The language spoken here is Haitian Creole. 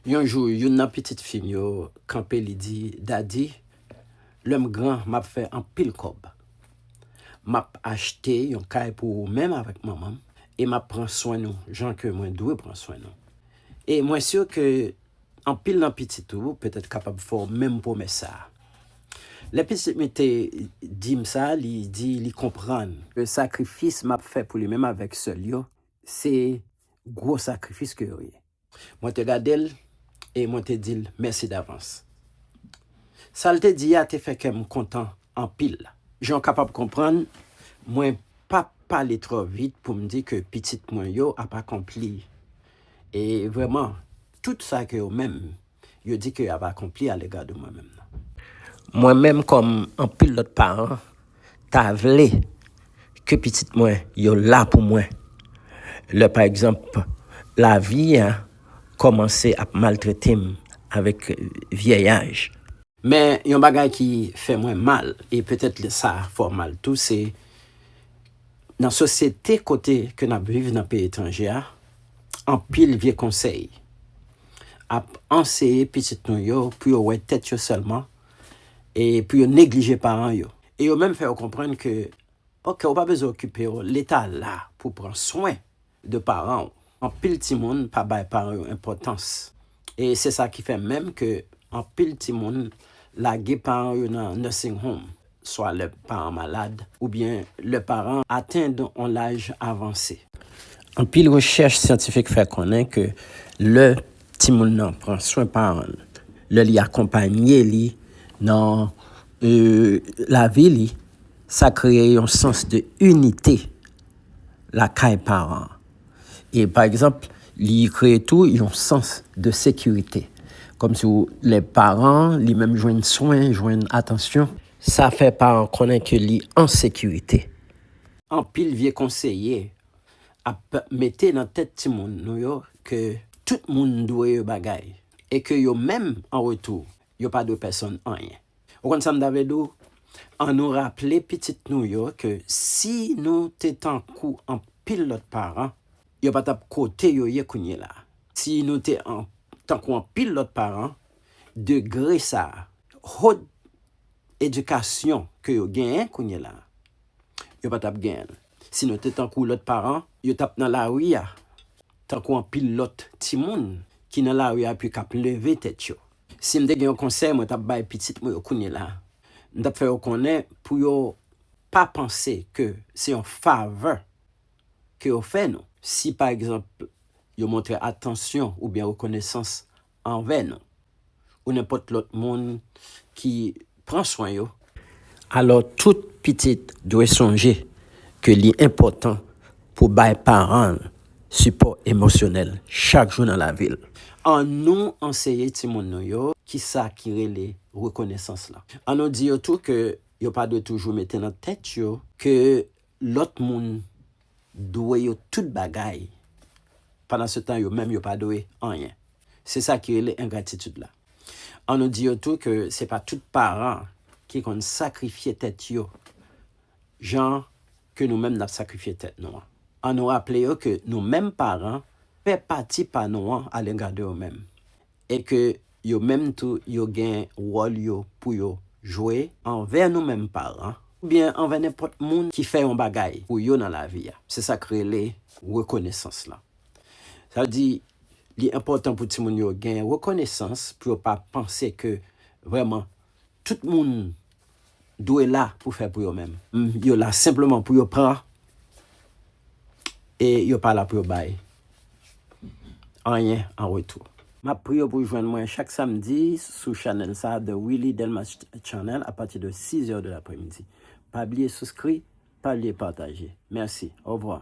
Yon jou, youn nan pitit fi m yo kanpe li di, Dadi, lè m gran, m ap fè anpil kòb. M ap achte yon kay pou ou menm avèk manman m e m ap pran swen nou jan ke mwen dwe pran swen nou. E mwen si ke anpil nan pitit ou petèt kapab fè w menm pwomès sa a. Lè pitit mi te di m sa, li di li konprann. Sakrifis m ap fè pou li menm avèk sè l yo se gwo sakrifis ke yo ye. Mwen te gade l e mwen te di l mèsi davans. Sa l te di a te fè kè m kontan anpil. Jan w kapab konprann, mwen pa p pale twò vit pou m di ke pitit mwen yo ap akonpli e vrèman tout sa ke yo menm yo di ke y ap akonpli alega de mwen menm nan. Mwen menm kòm anpil lòt paran ta vle ke pitit mwen yo la pou mwen lè pa egzanp lavi a kòmanse ap maltrete m avèk vyèyaj. Men yon bagay ki fè mwen mal e petèt sa fè w mal tou se nan sosyete kote ke n ap viv nan peyi etranje a anpil vye konsèy ap anseye pitit nou yo pou yo wè tèt yo sèlman e pou yo neglije paran yo. E yo menm fè yo konprann ke ok ou pa bezwen okipe yo, leta la pou pran swen de paran ou. Anpil timoun pa bay paran yo enpòtans e se sa ki fè menm ke anpil timoun lage paran yo nan nursing home. swa lè paran malad oubyen lè paran an atenn yon laj avanse. Anpil rechèch syantifik fè konnen ke lè timoun nan pran swen paran l, lè li akonpanye li nan lavi li, sa kreye yon sans de inite lakay paran an. E pa egzanp, li kreye tou yon sans de sekirite. Kòm si lè paran an li menm jwenn swen, jwenn atansyon, sa fè paran an konnen ke li an sekirite. Anpil vye konseye ap mete nan tèt timoun nou yo ke tout moun dwe yo bagay e ke yo menm an retou Yo pa dwe pèsonn anyen. Ou konn sa m ta vle di w? An nou raple pitit nou yo ke si nou te tankou anpil lòt paran, yo pa t ap kote yo ye kounyela a. Si nou te tankou anpil lòt paran, degre sa a, haut edikasyon ke yo genyen kounyela a, yo pa t ap genyen l. Si nou te tankou lòt paran, yo t ap nan lari a tankou anpil lòt timoun ki nan lari a epi k ap leve tèt yo. Si m te gen yon konsèy mwen t ap bay pitit mwen yo kounyela, m t ap fè yo konnen pou yo pa panse ke se yon favè ke yo fè nou si pa egzanp yo montre atansyon oubyen rekonesans anvè nou ou nenpòt lòt moun ki Pran swen yo. Alò tout pitit dwe sonje ke li enpòtan pou bay paran l sipò emosyonèl chak jou nan lavi l. Annou anseye timoun nou yo kisa ki rele rekonesans lan. Annou di yo tou ke yo pa dwe toujou mete nan tèt yo ke Lòt moun dwe yo tout bagay, pandansetan yo menm yo pa dwe anyen. Se sa ki rele engratitid la. An nou di yo tou ke se pa tout paran ki konn sakrifye tèt yo jan ke nou menm n ap sakrifye tèt nou an. An nou raple yo ke nou menm paran, fè pati pa nou an alega de yo menm. E ke yo menm tou yo gen wòl yo pou yo jwe anvè nou menm paran oubyen anvè nenpòt moun ki fè yon bagay pou yo nan lavi a. Se sa k rele rekonesans lan. Sa vle di li enpòtan pou timoun yo gen rekonesans pou yo pa panse ke vrèman Tout moun dwe la pou fè pou yo menm. Yo la senpleman pou yo pran e yo pa la pou yo bay anyen an retou. Map priye w pou w jwenn mwen chak samdi sou chanèl sa a The Willy Delmas Channel a pati de 6 heures de l'après-midi. Pa bliye souskri, pa bliye pataje. Mèsi. Au revoir.